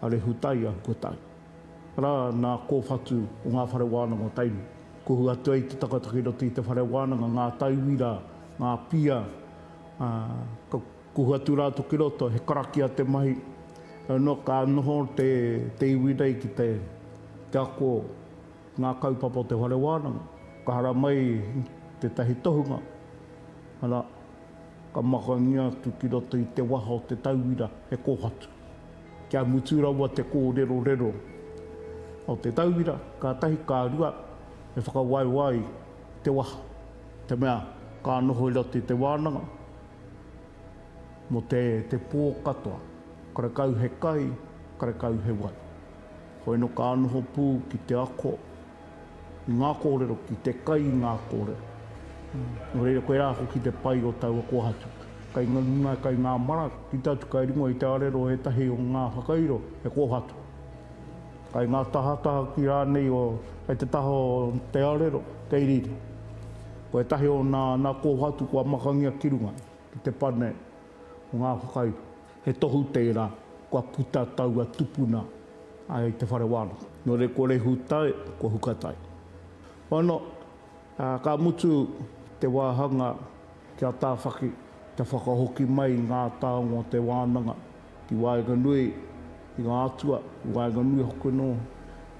a Rehutaia kua tae ra na kowhatu o nga whare wananga o Tainui. Kuhu atu ai te tangata ki roto i te whare wananga, nga taiwi ra, nga pia, a ka kuhu atu ratou ki roto, he karakia te mahi, heoi no ka noho te iwi nei ki te ako nga kaupapa o te whare wananga, ka hara mai tetahi tohunga, ara. Ka makangia atu ki roto i te waha o te tauira e kōhatu. Kia mutu rawa te kōrerorero o te tauira, ka tahi, ka rua, e whakawaewae ai te waha, te mea ka noho i roto i te wānanga mō te te pō katoa, karekau he kai, karekau he wai. Hoino ka noho pū ki te ako. I ngā kōrero, ki te kai i ngā kōrero. Nō reira, koirā hoki te pai o taua kōhatu. Kai ngā ringa, kai ngā mara, ki te atu kai ringo i te arero ētahi o ngā whakairo, he kōhatu. Kai ngā tahataha ki rānei o, kai te taha o te arero, kei riri. Ko ētahi o nā, nā kōhatu kua makangia ki runga, ki te pane o ngā whakairo. He tohu tērā kua puta taua tupuna i te whare wānanga. Nō reira ko Rehutai, ko Hukatai. Hono, ā, ka mutu te wāhanga kia tāwhaki te whakahoki mai i ngā taonga o te wānanga ki waenganui i ngā atua, i waenganui hoki anō,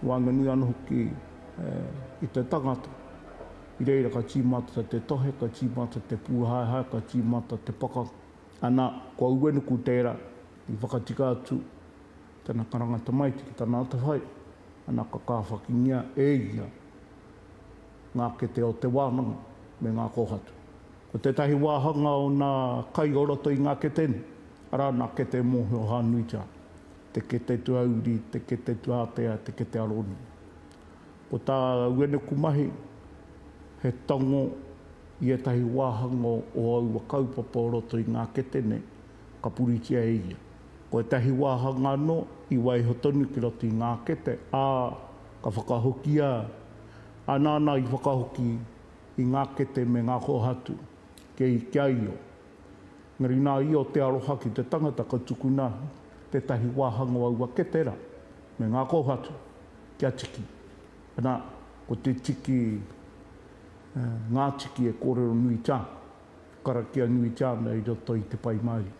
i waenganui anō hoki i te tangata. I reira ka tīmata te tohe, ka tīmata te pūhaehae, ka tīmata te pakanga. Ana, ko Uenuku tērā i whakatika atu tana karanga tamaiti ki tana atawhai, ana ka kāwhakingia e ia ngā kete o te wānanga me ngā kōhatu. Ko tētahi wāhanga o nā kai o roto i ngā kete nei, arā nā kete mōhio hānuitia, te kete tuauri, te kete tuātea, te kete aronui. Ko tā Uenuku mahi, he tango, i ētahi wāhanga o aua kaupapa o roto i ngā kete nei, ka puritia e ia. Ko ētahi wāhanga anō i waiho tonu ki roto i ngā kete, ā, ka whakahokia ā nāna i whakahoki i ngā kete me ngā kōhatu, kei kia io. Engari nā io te aroha ki te tangata ka tukuna tētahi wāhanga o aua kete rā, me ngā kōhatu, kia tiki. Ana, ko te tiki, ngā tiki e kōrero nui te ana, e karakia nui te ana i roto i te pai mauri.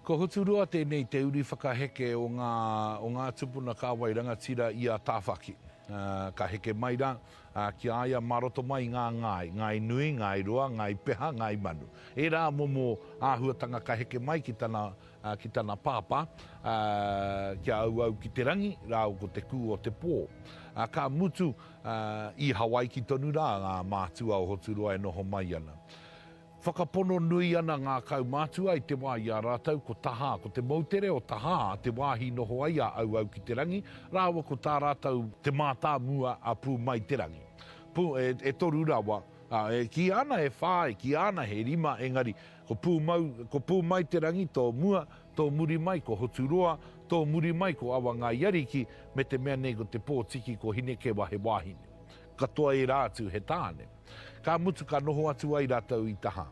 Ko Huturoa tēnei te uri whakaheke o ngā, o ngā tupuna kāwai rangatira i a Tāwhaki. Ka heke mai rā, ki a ia mā roto mai i ngā ngāi, ngāi nui, ngāi roa, ngāi peha, ngāi manu. Ērā momo āhuatanga ka heke mai ki tana ki tana pāpā, ā, kia auau ki te rangi rāua ko te kū o te pō. Ā, ka mutu, ā, i Hawaiki tonu rā ngā mātua o Hoturoa e noho mai ana. Whakapono nui ana ngā kaumātua i te wā i a rātou ko Tahā, ko te moutere o Tahā te wāhi noho ai a auau ki te rangi rāua ko tā rātou te mātāmua a Pū Mai Te Rangi. Pū, e, e toru rawa, ā, e kīia ana e whā, e kīia ana he rima, engari, Ko Pūmau, ko Pūmaiterangi tō mua, tō muri mai ko Hoturoa, tō muri mai ko Awangaiariki, me te mea nei ko Te Pōtiki, ko Hinekewa he wāhine. Katoa ērā atu he tāne. Ka mutu ka noho atu ai rātou i Taha.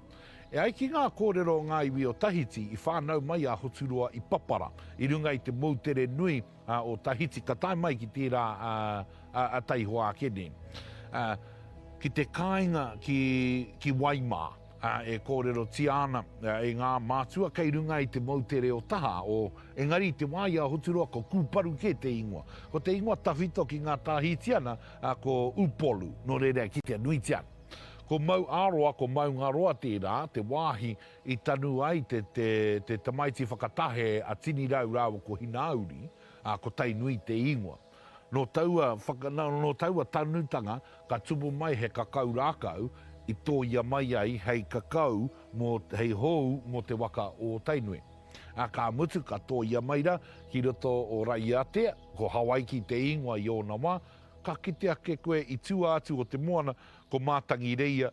E ai ki ngā kōrero o ngā iwi o Tahiti, i whānau mai a Hoturoa i Papara, i runga i te moutere nui o Tahiti, ka tae mai ki tērā a Taihoa ake nei, ki te kāinga ki Waimā. e kōrerotia ana e ngā mātua kei runga i te moutere o taha, o, engari i te wā i a Hoturoa ko Kūparu kē te ingoa. Ko te ingoa tawhito ki ngā Tāhitiana ko Upolu, nō reira e kitea nuitia ana. Ko Mauāroa, ko Maungaroa tērā, te wāhi i tanu ai te, te, te tamaiti whakatahe a Tinirau rāua ko Hinauri, ā, ko Tainui te ingoa. Nō taua whaka, nō taua tanutanga ka tupu mai he kakau rākau i tōia mai ai hei kakau mō, hei hou mō te waka o Tainui. Ā, ka mutu ka tōia mai ra ki roto o Raiatea, ko Hawaiki te ingoa i ōna wā, ka kite ake koe i tua atu o te moana ko Mātangireia,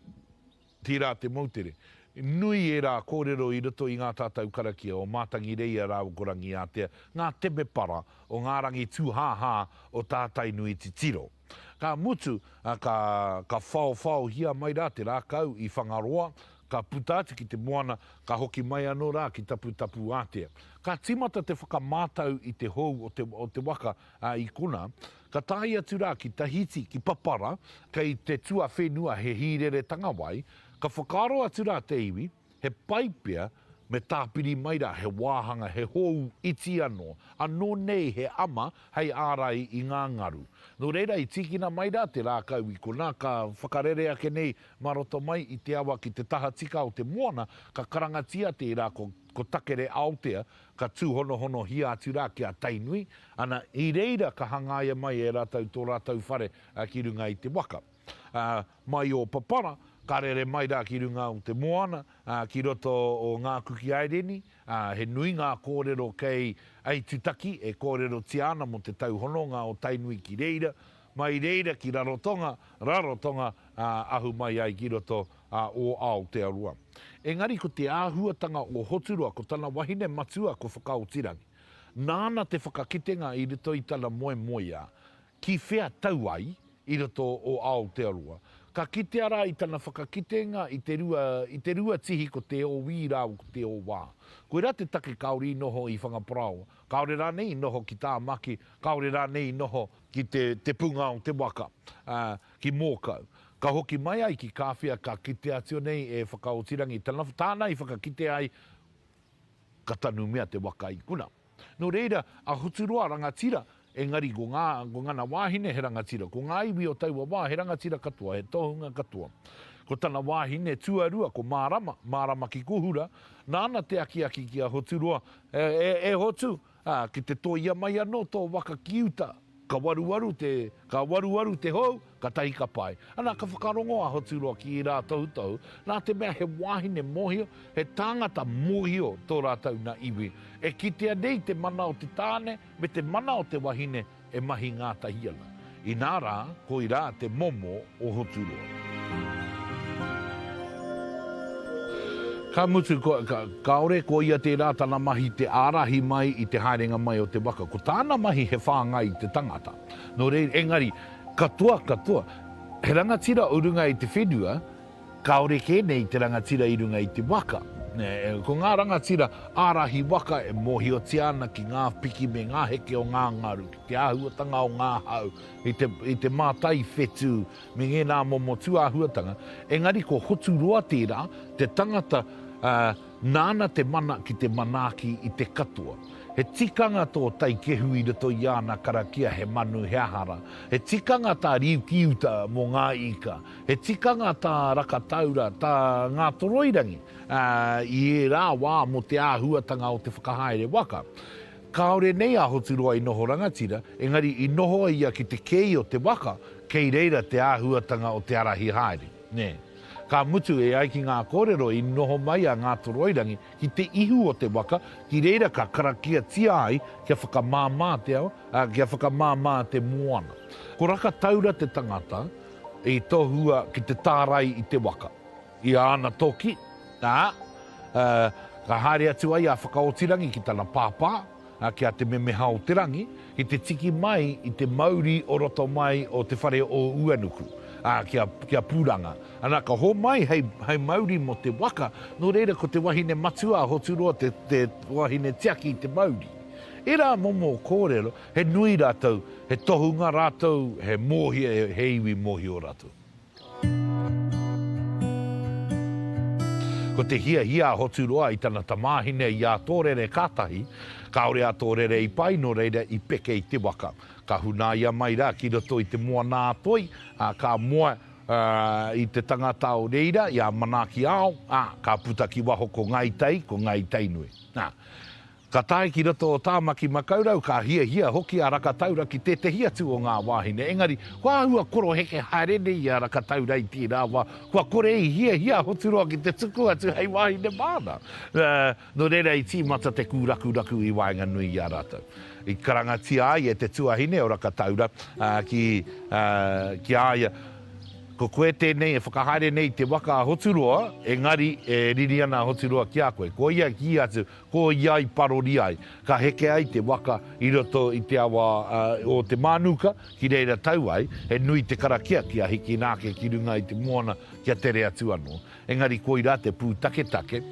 Tērā te moutere. Nui ērā kōrero i roto i ngā tatau karakia o Mātangireia rāua ko Rangiātea, ngā temepara o ngā rangi tūhāhā o tā Tainui titiro. Ka mutu, ka, ka whaowhaohia mai rā te rākau i Whangaroa, ka puta atu ki te moana, ka hoki mai anō rā ki Taputapuātea. Ka tīmata te whakamātau i te hou o te, o te waka, a Ikona, ka tae atu rā ki Tahiti, ki Papara, kei te tuawhenua he hīreretanga wai, ka whakaaro atu rā te iwi, he pai pea me tāpiri mai rā he wāhanga, he hōu iti anō, anō nei he ama hei ārai i ngā ngaru. Nō reira i tīkina mai rā te rākau i konā, ka whakarere ake nei mā roto mai i te awa ki te tahatika o te moana, ka karangatia tērā ko Takere Aotea, Ka tūhonohonohia atu rā ki a Tainui, ana, i reira ka hangaia mai e rātou tō rātou whare ki runga i te waka. Mai o Papara, ka rere mai rā ki runga o te moana, ki roto o Ngā Kuki Aireni, he nui ngā kōrero kei Aitutaki e kōrerotia ana mō te tauhononga o Tainui ki reira, Mai reira ki Rarotonga, Rarotonga, ā, ahu mai ai ki roto, ā, o Aotearoa. Engari ko te āhuatanga o Hoturoa ko tana wahine matua ko Whakaotirangi. Nāna te whakakitenga i roto i tana moemoeā, ki whea tau ai i roto o Aotearoa. Ka kitea rā i tana whakakitenga i te rua, i te rua tihi ko Te Ōwī rāua ko Te Ōwā. Koirā te take kāore i noho i Whangaparāoa, kāore rānei i noho ki Tāmaki, kāore rānei i noho ki te te punga o te waka, a, ki Mōkau. Ka hoki mai ai ki Kāwhia ka kite atu nei e Whakaotirangi tana tāna i whakakite ai ka tanumia te waka i kuna. Nō reira, a Hoturoa rangatira, engari ko ngā, ko ngana wāhine he rangatira, ko ngā iwi o taua wā he rangatira katoa, he tohunga katoa. Ko tana wāhine tuarua ko Mārama, Mārama ki Kohura, nāna te akiaki ki a Hoturoa, E, e, e Hotu! Ā, ki te tōia mai anō tō waka ki uta, ka waruwaru te, ka waruwaru te hou, katahi ka pai. Ana ka whakarongo a Hoturoa ki ērā tohutohu, nā te mea he wāhine mōhio, he tāngata mōhio tō rātou nā iwi. E kitea nei te mana o te tāne me te mana o te wahine, e mahi ngātahi ana, inā rā, koirā te momo o Hoturoa. Ka mutu, kāore ko ia tērā tana mahi te ārahi mai i te haerenga mai o te waka. Ko tāna mahi he whāngai i te tangata. Nō reira, engari, katoa, katoa, he rangatira o runga i te whenua, Kāore kē nei te rangatira i runga i te waka. Ko ngā rangatira ārahi waka e mōhiotia ana ki ngā piki me ngā heke o ngā ngaru, ki te āhuatanga o ngā hau, i te mātai whetū me ngēnā momo tūāhuatanga, engari ko Hoturoa tērā, te tangata nāna te mana ki te manaaki i te katoa. He tikanga tō Taikehu i roto i āna karakia he manu, he aha rā. He tikanga tā Riukiuta mō ngā ika. He tikanga tā Rakataura, tā Ngātoroirangi, ā, i ērā wā mō te āhuatanga o te whakahaere waka. Kāore nei a Hoturoa i noho rangatira, engari i noho ia ki te kei o te waka, kei reira te āhuatanga o te ārahi haere. Nē. Ka mutu, e ai ki ngā kōrero, i noho mai a Ngātoroirangi ki te ihu o te waka, ki reira ka karakiatia ai kia whakamāmā te ao, ā, kia whakamāmā te moana. Ko Rakataura te tangata, I tohua ki te tārai i te waka. I āna toki, ā, ka haere atu ai a Whakaotirangi ki tana pāpā, ki a Te Memeha-o-te-rangi, ki te tiki mai i te mauri o roto mai o Te Whare-o-Uanuku, ā, ki a Pūranga. Ana, ka homai hei mauri mō te waka, nō reira ko te wahine matua a Hoturoa te wahine tiaki i te mauri. Ērā momo kōrero. He nui rātou, he tohunga rātou, he mōhio, he iwi mōhio rātou. Ko te hiahia a Hoturoa i tana tamāhine i a Tōrere kātahi, kāore a Tōrere i pai nō reira i peke i te waka. Ka hunaia mai rā ki roto i te moana-a-toi, ā, ka moe i te tangata o reira, i a Manaaki-ao, ā, ka puta ki waho ko Ngāi Tai, ko Ngāi Tainui. Ā. Ka tae ki roto o Tāmaki Makaurau, ka hiahia hoki a Rakataura ki tētehi atu o ngā wāhine, engari kua āhua koroheke haere nei i a Rakataura i tērā wā, kua kore i hiahia a Hoturoa ki te tuku atu hei wāhine māna. Nō reira i tīmata te kūrakuraku i waenganui i a rātou. I karangatia ai e te tuahine o Rakataura ki a ia, Ko koe tēnei e whakahaere nei i te waka a Hoturoa, engari e riri ana a Hoturoa ki a koe. Koia i kī atu, Ko ia i parori ai, ka heke ai te waka i roto i te awa o Te Mānuka, ki reira tau ai, he nui te karakia kia hikina ake ki runga i te moana kia tere atu anō. Engari koirā te pūtaketake.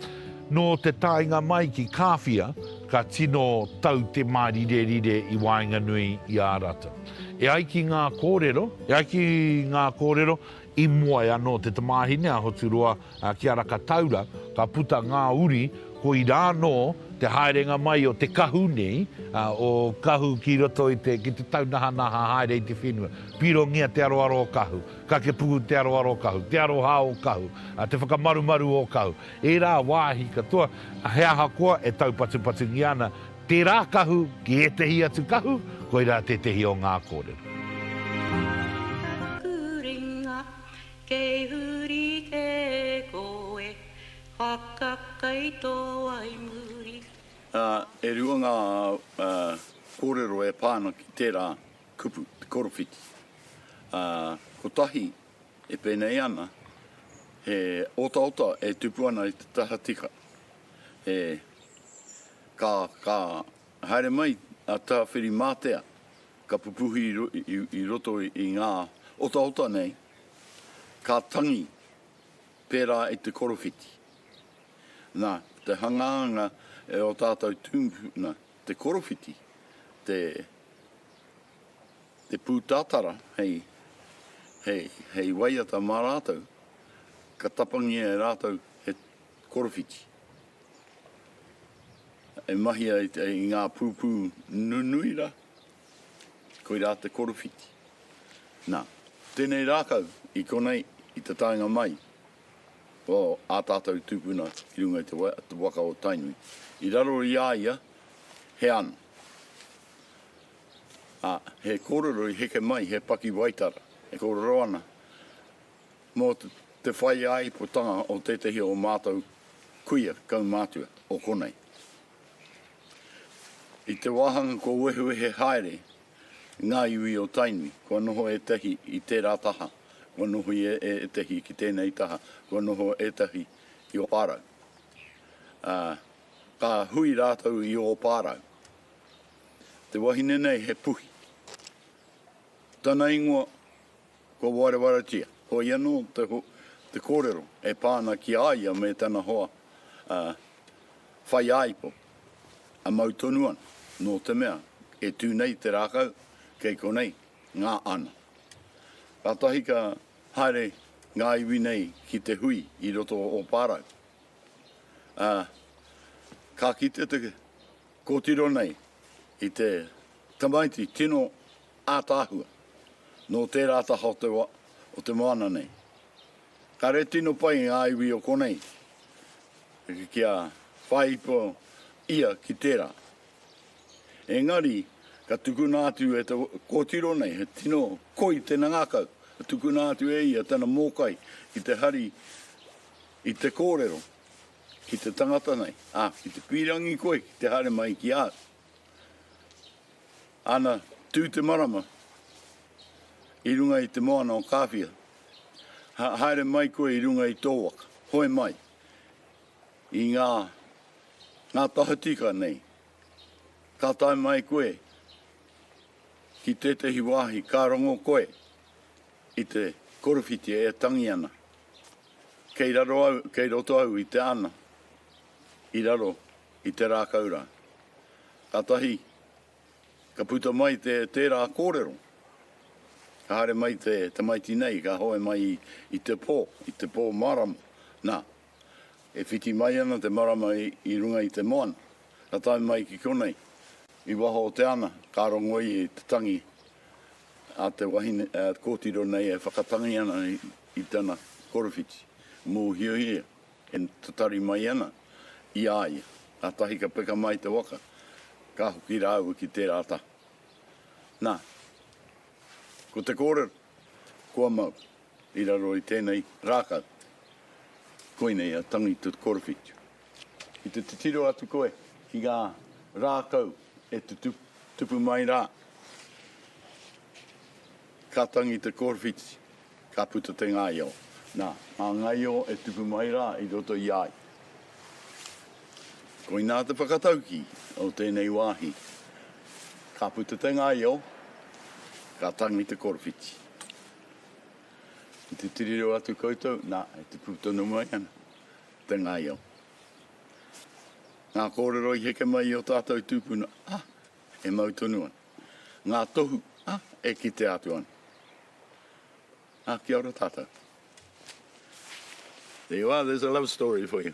Nō te taenga mai ki Kāwhia, ka tino tau te mārirerire i waenganui i a rātou. E ai ki ngā kōrero, e ai ki ngā kōrero, I mua e anō te tamāhine a Hoturoa ki a Rakataura, ka puta ngā uri, koirā anō te haerenga mai o te kahu nei, o kahu ki roto i te, ki te taunahanaha haere i te whenua. Pirongia te aroaro o kahu, kakepuku te aroaro o kahu, te aroha o kahu, te whakamarumaru o kahu. Ērā wāhi katoa, he ahakoa e taupatupatungia ana, Tērā kahu ki ētehi atu kahu, koirā tētehi o ngā kōrero. Whakakurenga, kei huri kē koe, whakakaito ai muri. E rua ngā kōrero e pā ana ki tērā kupu, te korowhiti. Kotahi e pēnei ana, he otaota e tupu ana i te taha tika. e, ka, ka haere mai a Tawhirimātea, ka pupuhi i, i, i roto i ngā otaota nei, ka tangi pērā i te korowhiti. Nā, te hangaanga e o tātou tūpuna, te korowhiti, te, te pūtatara hei, hei, hei waiata mā rātou, ka tapangia e rātou he Korowhiti. E mahi ai i ngā pūpū nunui rā, koirā te korowhiti. Nā, tēnei rākau i konei i te taenga mai o ā tātou tūpuna ki runga i te waka o Tainui, i raro i a ia he ano, ā, he kōrero i heke mai he pakiwaitara e kōrero ana, mō te whai ā-ipotanga o tētehi o mātou kuia kaumātua o konei. I te wāhanga kua wehewehe haere ngā iwi o Tainui, kua noho ētahi i tērā taha, kua noho ia e ētahi ki tēnei taha, kua noho ētahi ki Ōpārau. Ā, ka hui rātou i Ōpārau. Te wahine nei he puhi. Tana ingoa. Kua warewaratia, koia anō te kōrero e pā ana ki a ia me tana hoa a Whaiāipo, a mau tonu ana, nō te mea, e tū nei te rākau, kei konei ngā ana. Kātahi ka haere ngā iwi nei ki te hui i roto o Pārau, ā, ka kite te kōtiro nei i te tamaiti tino Ataahua, nō tērā taha o te wa o te moana nei. Kare tino pai ngā iwi o konei kia whaipo ia ki tērā. Engari ka tukuna atu e te kōtiro nei he tino koi tena ngakau, ka tukuna atu e ia tena mōkai ki te hari i te kōrero ki te tangata nei, a, ki te pīrangi koe ki te haere mai ki au. Ana tū te marama i runga i te moana o Kāwhia, haere mai koe i runga i tō waka, hoe mai i ngā tahatika nei, ka tae mai koe ki tētehi wāhi ka rongo koe i te korowhiti e tangi ana, kei roto au i te ana i raro i te rākau rā. Kātahi ka puta mai te tērā kōrero, ka haere mai te tamaiti nei, ka hoe mai i te pō, i te pō marama. Nā, e whiti mai ana te marama i runga i te moana, ka tae mai ki konei, i waho o te ana, ka rongo ia i te tangi a te wahine, a kōtiro nei e whakatangi ana i tana korowhiti, mōhiohia. E tatari mai ana i a ia, kātahi ka peka mai te waka, ka hoki rāua ki tērā taha. Nā, ko te kōrero, kua mau i raro i tēnei rākau, koinei a Tangi Te Korowhitu. Ki te titiro atu koe ki ngā rākau e tupu mai rā, ka Tangi Te Korowhitu. Ka puta te ngaio. Nā, ngā ngaio e tupu mai rā i roto i a ia. Koinā te whakataukī o tēnei wāhi. Ka puta te ngaio, ka tangi te korowhiti. Ki te tiriro atu koutou, nā, e tupu tonu mai ana te ngaio. Ngā kōrero i heke mai i ō tātou tūpuna, ah, e mau tonu ana. ngā tohu e kitea atu ana. Ā, kia ora tātou. There you are, there's a love story for you.